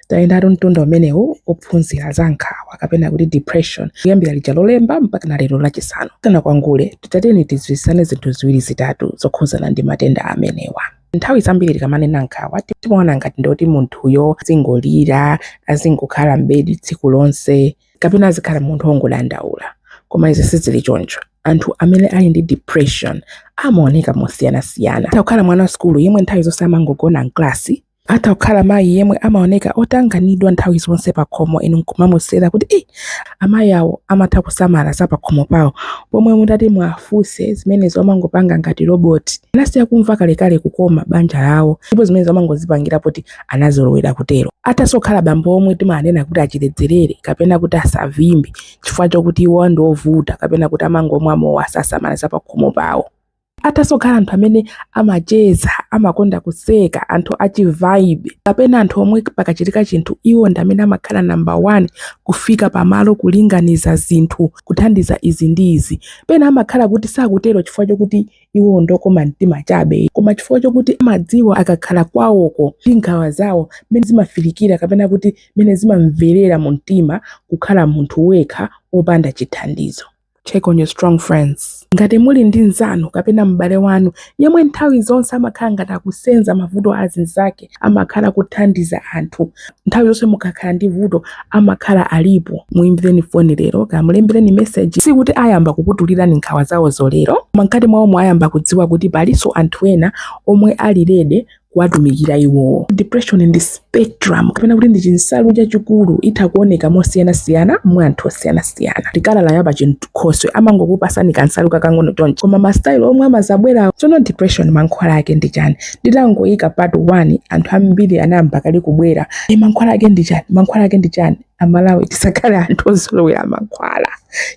Tayendatu mtunda umenewu ophunzira za nkhawa kapena kuti depression kuyambira lija lolemba mpaka na lero lachisanu. Takwangule titateni tidziwitsane zinthu ziwiri zitatu zokhuzana ndi matenda amenewa. Nthawi zambiri tikamanena nkhawa timaona ngati ndoti munthuyo azingolira, azingokhala m'bedi tsiku lonse kapena azikhala munthu ongodandaula. Koma izi sizili choncho. Anthu amene ali ndi depression amaoneka mosiyanasiyana. Atha kukhala mwana wa sukulu yemwe nthawi zonse amangogona mklasi Atha kukhala mayi yemwe amaoneka otanganidwa nthawi zonse pakhomo inu nkumamusira kuti ii amayi awo amatha kusamala za pakhomo pawo pomwe mutati muwafunse zimenezo amangopanga ngati loboti. Anasiya kumva kalekale kukoma banja lawo ndipo zimenezo amangozipangira poti anazolowera kutero. Athanso kukhala bambo omwe timawanena kuti achiledzerere kapena kuti asavimbe chifukwa chokuti iwowo ndi ovuta kapena kuti amangomwa mowa sasamala za pakhomo pawo. athanso kukhala anthu amene amacheza amakonda kuseka anthu achivibe kapena anthu omwe pakachitika chinthu iwo ndi amene amakhala namba 1 kufika pamalo kulinganiza zinthu kuthandiza izi ndi izi pena amakhala kuti sakutero chifukwa chokuti iwo ndokoma mtima chabe koma chifukwa chokuti amadziwa akakhala kwawoko ndi nkhawa zawo mmene zimafilikira kapena kuti mmene zimamverera mu mtima kukhala munthu wekha wopanda chithandizo Check on your strong friends. Ngati muli ndi mnzanu kapena m'bale wanu yemwe nthawi zonse amakhala ngati akusenza mavuto a azinzake, amakhala kuthandiza anthu, nthawi zonse mukakhala ndi vuto amakhala alipo, muimbireni foni lero kaya mulembereni meseji. Sikuti ayamba kukutulirani nkhawa zawozo lero, koma mkati mwawomo ayamba kudziwa kuti palinso anthu ena omwe ali ready kuwatumikira iwowo. Depression ndi spectrum kapena kuti ndi chinsalu chachikulu, itha kuoneka mosiyanasiyana mwa anthu osiyanasiyana. Tikalala ya pachinkhoswe amangokupasani kansalu kakang'ono choncho, koma mastyle omwe amazabwerawo. Tsono depression mankhwala ake ndi chani? Nditangoyika part 1 anthu ambiri anayamba kale kubwera, e, mankhwala ake ndi chani? Mankhwala ake ndi chani? amalawi tisakhale anthu ozolowera mankhwala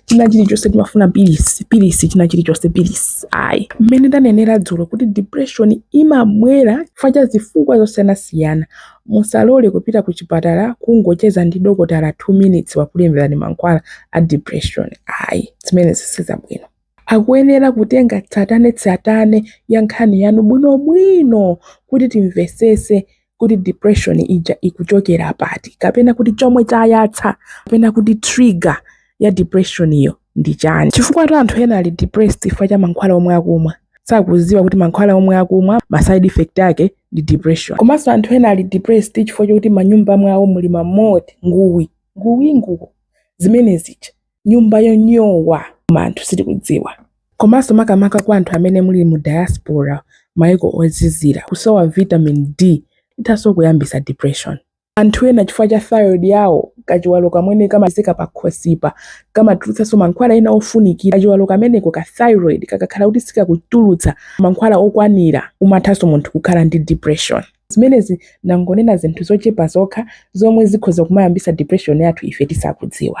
china chilichonse timafuna pilisi pilisi china chilichonse pilisi ayi mmene ndanenera dzulo kuti depression imabwera chifukwa cha zifukwa zosiyanasiyana musalole kupita ku chipatala kungocheza ndi dokotala 2 minutes wakulemberani mankhwala a depression ayi zimenezi sizabwino Akuyenera kutenga tsatanetsatane ya nkhani yanu bwino bwino kuti timvesese kuti depression ija ikuchokera pati kapena kuti chomwe chayatsa kapena kuti trigger ya depressionyo ndi chani chifukwatu anthu ena ali depressed chifukwa cha mankhwala omwe akumwa sakuziwa kuti mankhwala omwe akumwa ma side effect ake ndi depression komanso anthu ena ali depressed chifukwa chokuti manyumba mwawo muli ma mold nguwi nguwi nguwi zimene zija nyumba yonyowa koma anthu sitikudziwa komanso makamaka kwa anthu amene muli mu diaspora maiko ozizira kusowa vitamin D ithanso kuyambisa depression anthu ena chifukwa cha thyroid yawo kachiwalo kamene kamapezeka pakhosipa kamatulutsanso mankhwala ena ofunikira kachiwalo kameneko ka thyroid kakakhala kuti sikakutulutsa mankhwala okwanira umathanso munthu kukhala ndi depression zimenezi ndangonena zinthu zochepa zokha zomwe zikhoza kumayambisa depression yathu ife tisakudziwa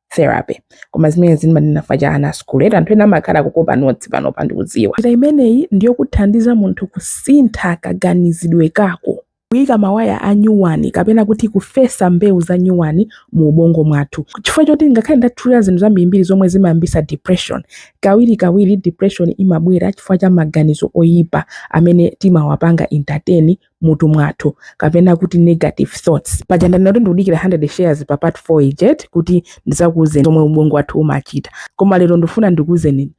therapy koma zimene ndimanena faja ana a sukulu eti anthu ena amakhala akukopa notsi pano pano ndikudziwa njira imeneyi ndiyokuthandiza munthu kusintha kaganizidwe kako kuyika mawaya a nyuwani kapena kuti kufesa mbewu za nyuwani mu ubongo mwathu chifukwa choti ngakhale ndatchulira zinthu zambirimbiri zomwe zimayambisa depression kawiri kawiri depression imabwera chifukwa cha maganizo oyipa amene timawapanga entertain mutu mwathu kapena kuti negative thoughts paja ndanena kuti ndikudikira 100 shares pa part 4 ijet kuti ndizakuuzeni zomwe ubongo wathu umachita koma lero ndifuna ndikuuzeni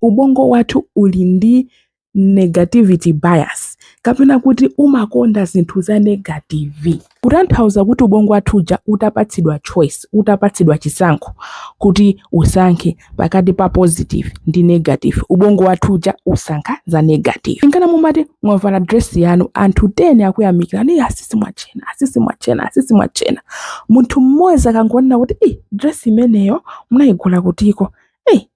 ubongo wathu uli ndi negativity bias kapena kuti umakonda zinthu za negative kutanthauza kuti ubongo wathu uja utapatsidwa choice utapatsidwa chisankho kuti usankhe pakati pa positive ndi negative ubongo wathu uja usankha za negative nkana mumati mwavala dress yanu anthu 10 akuyamikirani asisi mwatchena asisi mwatchena asisi mwatchena munthu mmodzi akangonena kuti i dress imeneyo munayigula kutiko ei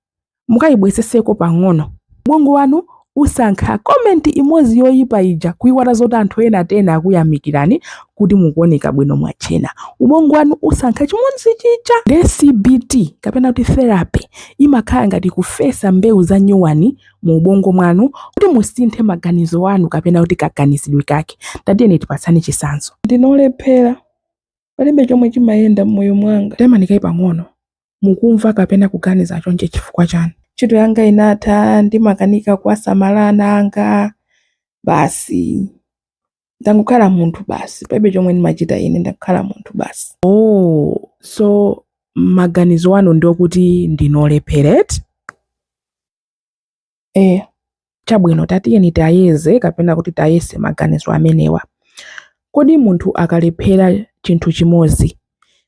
mukayibwezetseko pang'ono ubongo wanu Usankha comment imodzi yoyipa ija kuiwala zoti anthu ena 10 akuyamikirani kuti mukuoneka bwino mwatchena. Ubongo wanu usankha chimodzi chija. Nde CBT kapena kuti therapy imakhala ngati kufesa mbewu za nyuwani mu ubongo mwanu kuti musinthe maganizo anu kapena kuti kaganizidwe kake. Tatiyeni tipatsane chitsanzo. Ndine olephera, palibe chomwe chimayenda m'moyo mwanga. Taimani kaye pang'ono. Mukumva kapena kuganiza chonchi chifukwa chani? Ntchito yanga inatha, ndimakanika kuwasamala ana anga, basi. Ndangokhala munthu basi, palibe chomwe ndimachita ine, ndangokhala munthu basi. Oh, so maganizo anu ndiokuti ndinu olephera eti? Eh, chabwino tatiyeni tiyeze kapena kuti tiyese maganizo amenewa. Kodi munthu akalephera chinthu chimodzi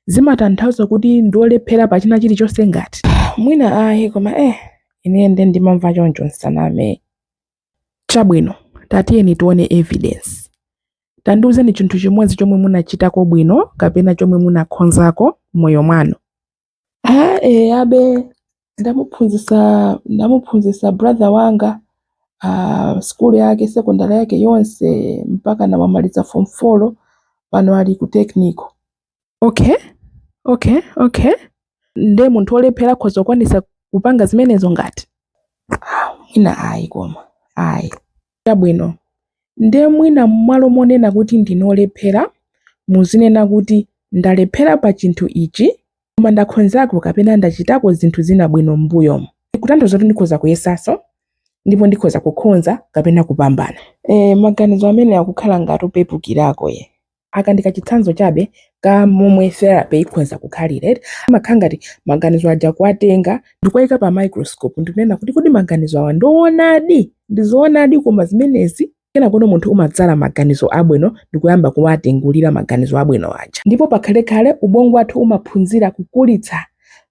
zimatanthauza kuti ndiolephera pa china chilichonse ngati? Mwina ayi koma eh ine nde ndimamva choncho nsaname. Chabwino tatiyeni tione evidence. Tandiuzeni chinthu chimodzi chomwe munachitako bwino kapena chomwe munakhonzako moyo mwanu. Aa abe ndamuphunzisa ndamuphunzisa brother wanga ah, skulu yake sekondari yake yonse mpaka anamaliza form 4 pano ali ku technical okay okay okay nde munthu olephera akhoza kukwanisa kupanga zimenezo ngati mwina ayi koma ayi Chabwino, nde mwina mmalo monena kuti ndinu olephera, muzinena kuti ndalephera pa chinthu ichi koma ndakhonzako kapena ndachitako zinthu zina bwino mmbuyomu. Kutanthauza kuti ndikhoza kuyesanso ndipo ndikhoza kukhonza kapena kupambana. Eeh, maganizo amenewa akukhala ngati opepukirako eeh. Aka ndi kachitsanzo chabe ka momwe therapy ikhoza kukhalira eti. Amakhala ngati maganizo aja kuwatenga ndikuwaika pa microscope ndikunena kuti kodi maganizo awa ndi owonadi? Ndi zoonadi koma zimenezi? Kenakono munthu umadzala maganizo abwino ndikuyamba kuwatengulira maganizo abwino aja. Ndipo pakhalekhale ubongo wathu umaphunzira kukulitsa.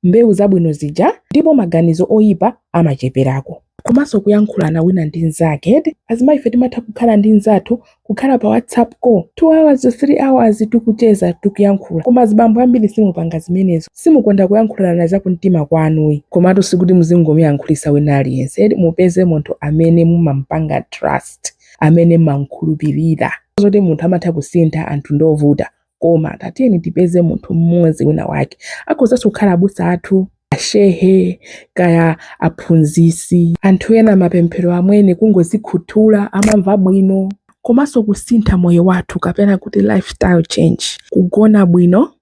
mbewu zabwino zija ndipo maganizo oyipa amacheperako komanso kuyankhulana wina ndi mnzake eti azimayi ife timatha kukhala ndi mnzathu kukhala pa whatsapp call 2 hours 3 hours tikucheza tikuyankhula koma azibambo ambiri simupanga zimenezo simukonda kuyankhulana za kumtima kwanuyi komatu sikuti muzingomuyankhulisa wina aliyense eti mupeze munthu amene mumampanga trust amene mumamkhulupirira zoti munthu amatha kusintha anthu ndovuta koma tatiyeni tipeze munthu mmodzi wina wake akhozanso kukhala abusa athu ashehe kaya aphunzisi anthu ena mapemphero amwene kungozikhuthula amamva bwino komanso kusintha moyo wathu kapena kuti lifestyle change kugona bwino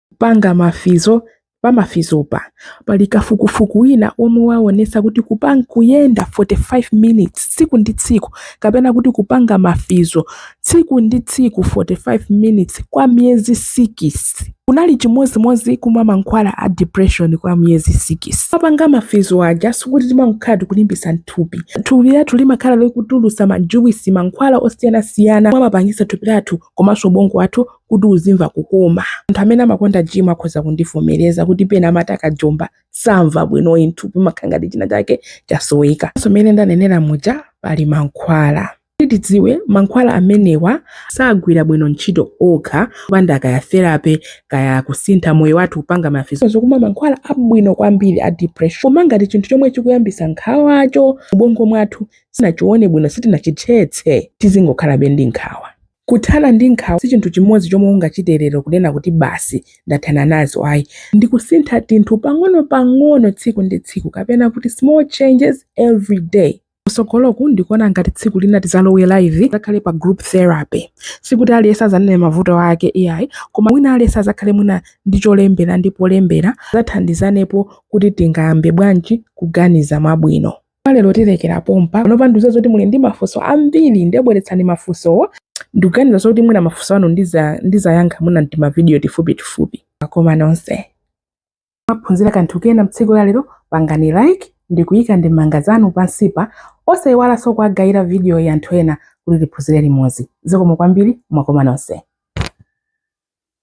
kupanga mafizo Pa mafizopa, pali kafukufuku wina omwe waonetsa kuti kuyenda 45 minutes tsiku ndi tsiku kapena kuti kupanga mafizo tsiku ndi tsiku 45 minutes kwa miyezi sikisi kunali chimodzimodzi kumwa mankhwala a depression kwa miyezi sikisi. Popanga mafizo aja sikuti timangokhala tikulimbitsa thupi. Thupi lathu limakhala likutulutsa majuwisi, mankhwala osiyanasiyana omwe amapangitsa thupi lathu komanso ubongo wathu kuti uzimva kukoma. Anthu amene amakonda gym akhoza kundivomereza kuti pena amati akajomba samva bwino mthupi mumakhala ngati china chake chasoweka. So mmene ndanenera muja pali mankhwala tidziwe mankhwala amenewa sagwira bwino ntchito okha kupanda kaya therapy kaya kusintha moyo wathu kupanga mafizo uzikumwa mankhwala abwino kwambiri a depression koma ngati chinthu chomwe chikuyambisa nkhawacho mubongo mwathu sitinachione bwino sitinachithetse tizingokhalabe ndi nkhawa Kuthana ndi nkhawa si chinthu chimodzi chomwe ungachite lero kunena kuti basi ndathana nazo ayi. Ndikusintha tinthu pang'ono pang'ono tsiku ndi tsiku kapena kuti small changes every day. Kusogoloku ndikuona ngati tsiku lina tizalowe live tizakhale pa group therapy. Sikuti aliyense azanene mavuto ake iyayi koma wina aliyense azakhale mwina ndi cholembera ndi polembera tizathandizanepo kuti tingayambe bwanji kuganiza mwabwino. Kwa lero tilekera pompa. Panopa ndikudziwa zoti muli ndi mafunso ambiri nde bweretsani mafunsowo. Ndikuganiza zoti mwina mafunso anu ndiza ndizayankha mwina m'timavidiyo tifupi tifupi. Wakoma nonse mwaphunzira kanthu kena mtsiku la lero pangani like ndikuyika ndemanga zanu pansipa osayiwalanso kuwagayira vidiyoyi anthu ena kuti tiphunzire limodzi. Zikomo kwambiri wakoma nonse.